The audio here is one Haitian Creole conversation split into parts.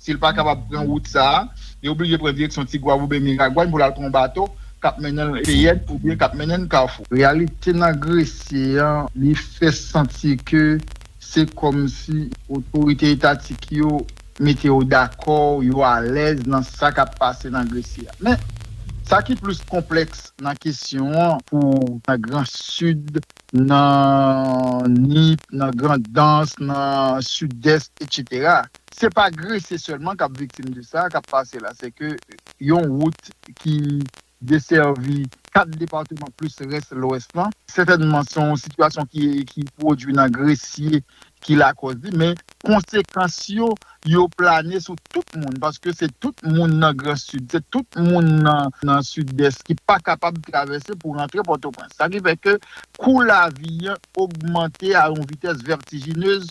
Si l pa kapab pran wout sa a, li oblije pran direksyon Tigwav oubyen Miragwàn pou l al pran yon bato k ap mennen l Feyèn oubyen k ap mennen l Kafou. Reyalite nan Gresye an, li fè santi ke se kòmsi otorite etatik yo mete yo dakò, yo alèz nan sa k ap pase nan Gresye a. Men, sa ki plis konplèks nan kesyon an pou nan Gran Sid, nan Nip, nan Grandans, nan Sidès, etsetera, Se pa Gresye sèlman k ap viktim de sa k ap pase la, se ke yon wout ki desèvi 4 departeman plis rès Lwès lan, sètènman se yon sitiyasyon ki pwodui nan Gresye ki lakòz li, men konsekans yo, yo plane sou tout moun, paske se tout moun nan Gran Sid, se tout moun nan Sidès ki pa kapab travèse pou rantre Pòtoprens. Sa ki fè ke kou lavi an ogmante a yon vitès vètijinez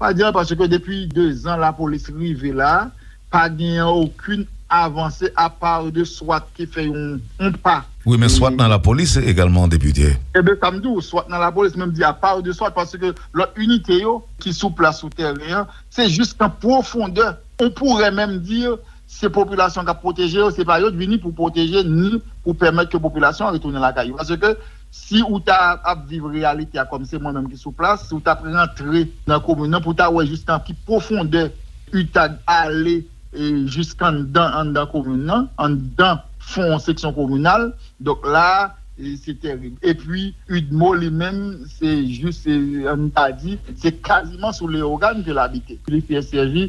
Pa di anyen paske depi 2 zan lapolis rive la, pa genyen okin avanse apa de swat ki fè yon pa. Wi men swat nan lapolis egalman depite. Eben sa m di w, swat nan lapolis men m di apa de swat paske lòt inite yo ki sou plas sou tèren an se jis nan pwofondè, on pourrait meme dire Se popilasyon k ap pwoteje yo, se pa yo k vini pou pwoteje ni pou pèmèt ke popilasyon an retounen lakay yo. Paske si ou ta ap viv reyalite a kòm se mwen menm ki sou plas, si ou t ap rantre nan komin nan pou w ta wè jistan ki pwofondè utag ale jisk anndan anndan komin nan, anndan fon seksyon kominal, donk la a se tèrib. Epi udmo li menm se jis, an n ta di, se kaziman sou Leyogàn ke l abite. Li fè sèvi.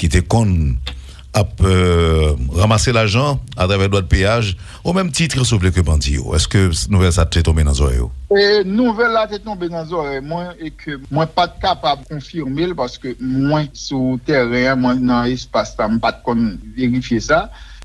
ki te konn ap ranmase lajan atravè dwat peyaj o menm titre sou vle ke bandi yo eske nouvèl sa te tonbe nan zorèy ou? Nouvèl la te tonbe nan zorèy mwen e ke mwen pat kapab konfirmel paske mwen sou tèren an mwen nan espas la m pat konn verifye sa.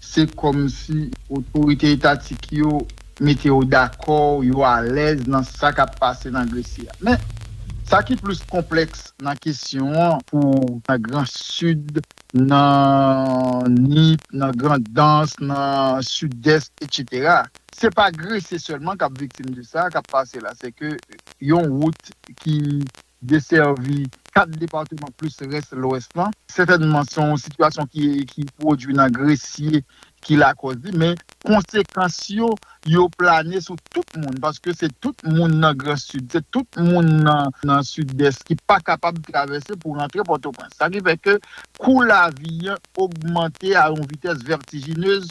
se kòmsi otorite etatik yo mete yo dakò, yo alèz nan sa k ap pase nan Gresi a. Men, sa ki plis konplèks nan kesyon an pou nan Gran Sid, nan Nip, nan Grandans, nan Sidès, etsetera, se pa Grese sèlman k ap viktim de sa k ap pase la, sèke yon wout ki Desèvi 4 depatman plis rès Lwès lan. Sètènman se yon sitiyasyon ki pwodui nan Gresye ki lakòz li, men konsekans yo, yo plane sou tout moun, paske se tout moun nan Gran Sid, se tout moun nan Sidès ki pa kapab travèse pou rantre Pòtoprens. Sa ki fè ke kou lavi an ogmante a yon vitès vètijinez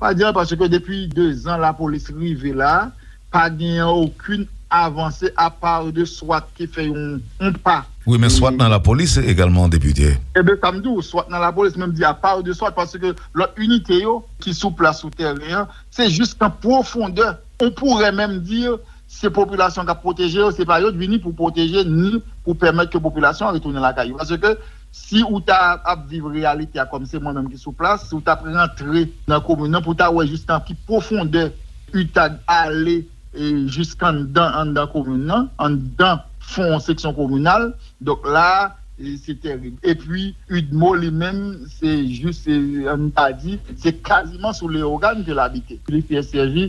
Pa di anyen paske depi 2 zan lapolis rive la pa genyen okin avanse apa de swat ki fè yon pa. Wi men swat nan lapolis egalman depite. Eben sa m di w swat nan lapolis men m di apa de swat paske lòt inite yo ki sou plas sou tèren an se jis nan pwofondè on pourè menm di se popilasyon k ap pwoteje yo se pa yo t vini pou pwoteje ni pou pèmèt ke popilasyon an retounen lakay yo paske Si ou ta ap viv reyalite a kòm se mwen menm ki sou plas, si ou ta ap rantre nan komin nan pou w ta wè jistan ki pwofondè u ta ale jiskanndan anndan komin nan, anndan fon seksyon kominal, donk la a se tèrib. Epi udmo li menm se jis an n ta di se kaziman sou Leyogàn ke l abite. Li fè sèvi.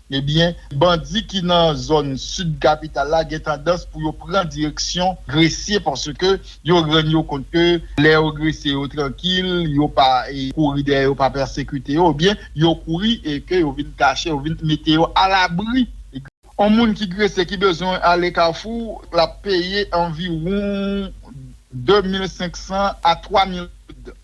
Ebyen, bandi ki nan zòn sid kapital la gen tandans pou yo pran direksyon Gresye paske yo rann yo kont ke lè yo Gresye yo trankil, yo pa kouri dèyè yo, pa pèsekite yo, ebyen yo kouri e ke yo vin kache, yo vin mete yo alabri. On moun ki Gresye ki bezwen ale Kafou, l ap peye anviwon 2500 a 3000 goud.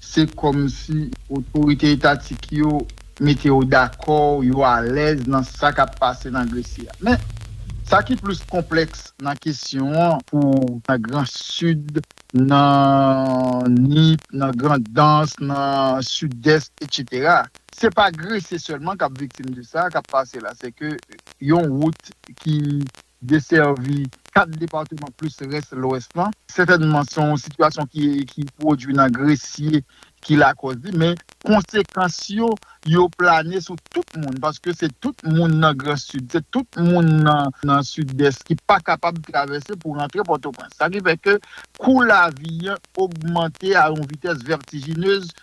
se kòmsi otorite etatik yo mete yo dakò, yo alèz nan sa k ap pase nan Gresi a. Men, sa ki plis konplèks nan kesyon an pou nan Gran Sid, nan Nip, nan Grandans, nan Sidès, etsetera, se pa Grese sèlman k ap viktim de sa k ap pase la, sèke yon wout ki Desèvi 4 depatman plis rès Lwès lan. Sètènman se yon sitiyasyon ki pwodui nan Gresye ki lakòz li, men konsekans yo, yo plane sou tout moun paske se tout moun nan Gran Sid, se tout moun nan Sidès ki pa kapab travèse pou rantre Pòtoprens. Sa ki fè ke kou lavi an ogmante a yon vitès vètijinez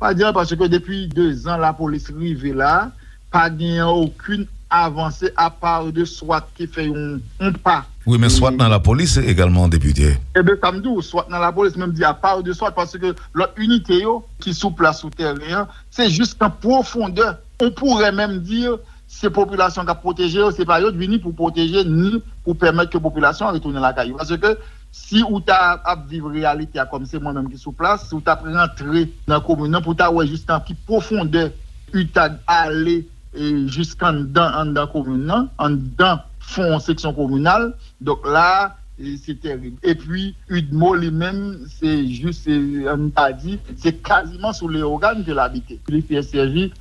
Pa di anyen paske depi 2 zan lapolis rive la pa genyen okin avanse apa de swat ki fè yon pa. Wi men swat nan lapolis egalman depite. Eben sa m di w swat nan lapolis men m di apa de swat paske lòt inite yo ki sou plas sou tèren an se jis nan pwofondè on pourè menm di se popilasyon k ap pwoteje yo se pa yo t vini pou pwoteje ni pou pèmèt ke popilasyon an retounen lakay yo paske Si ou ta ap viv reyalite a kòm se mwen menm ki sou plas, si ou ta ap rantre nan komin nan pou w ta wè jistan ki pwofondè u ta ale jiskanndan anndan komin nan, anndan fon seksyon kominal, donk la a se tèrib. Epi udmo li menm se jis an n ta di se kaziman sou Leyogàn ke l abite. Li fè sèvi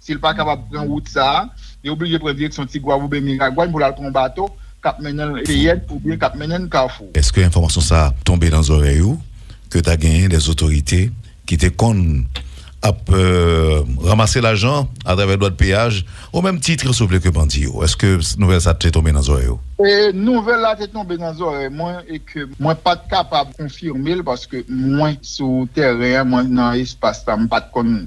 Si l pa kapab pran wout sa a, li oblije pran direksyon Tigwav oubyen Miragwàn pou l al pran yon bato k ap mennen l Feyèt oubyen k ap mennen l Kafou. Eske enfòmasyon sa a tonbe nan zòrèy ou ke ta genyen dè otorite ki te konn ap ranmase lajan atravè dwàn peyaj o menm titre si w vle ke bandi yo? Eske nouvèl sa a te tonbe nan zòrèy ou? Nouvèl la te tonbe nan zòrèy mwen e ke mwen pa t kapab konfime l paske mwen sou tèren an, mwen nan espas la m pa t konn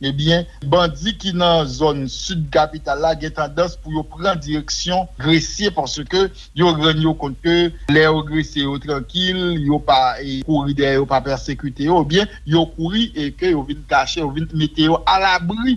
Ebyen, bandi ki nan zòn sid kapital la gen tandans pou yo pran direksyon Gresye paske yo rann yo kont ke lè yo Gresye yo trankil, yo pa kouri dèyè yo, pa pèsekite yo, ebyen yo kouri e ke yo vin kache, yo vin mete yo alabri.